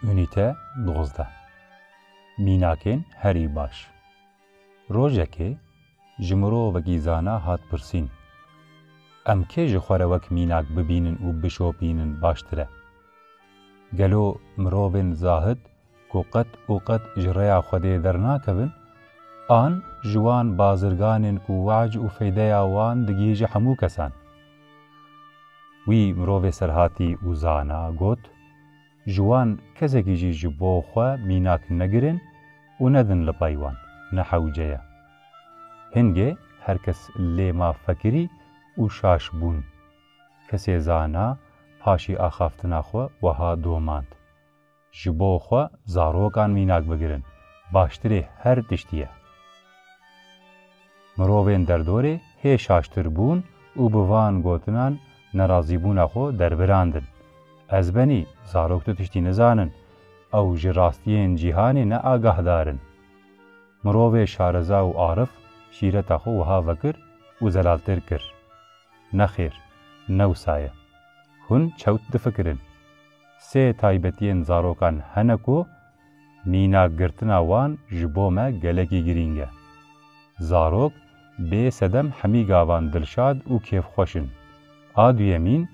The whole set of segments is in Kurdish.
Unîte dozdeh Mînakên herî baş Rojekê ji mirovekî zana hat pirsîn, Em kê ji xwe re wek mînak bibînin û bişopînin baştir e? Gelo mirovên zahid ku qet û qet ji rêya Xwedê dernakevin, an ji wan bazirganên ku weac û feydeya wan digihîje hemû kesan. Wî mirovê serhatî û zana got, Ji wan kesekî jî ji bo xwe mînak negirin û nedin li pay wan, ne hewce ye. Hingê her kes lê ma fekirî û şaş bûn. Kesê zana paşî axaftina xwe weha domand. Ji bo xwe zarokan mînak bigirin baştirê her tiştî ye. Mirovên derdorê hê şaştir bûn û bi van gotinan nerazîbûna xwe derbirandin, Ez benî, zarok tu tiştî nizanin, ew ji rastiyên cîhanê ne agahdar in. Mirovê şareza û arif şîreta xwe wiha vekir û zelaltir kir, Nexêr, ne wisa ye. Hûn çewt difikirin. Sê taybetiyên zarokan hene ku mîna girtina wan ji bo me gelekî girîng e. Zarok bê sedem hemî gavan dilşad û kêfxweş in. A duyemîn,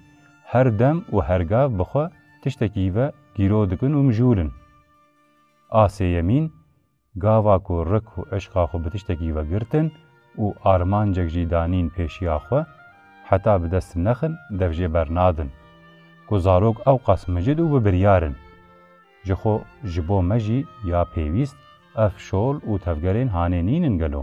her dem û her gav bi xwe tiştekî ve gîro dikin û mijûl in. A sêyemîn, Gava ku rik û eşqa xwe bi tiştekî ve girtin û armancek jî danîn pêşiya xwe, heta bi dest nexin dev jê bernadin. Ku zarok ewqas micid û bi biryar in. Ji xwe ji bo me jî ya pêwîst ev şol û tevgerên hanê nîn in gelo?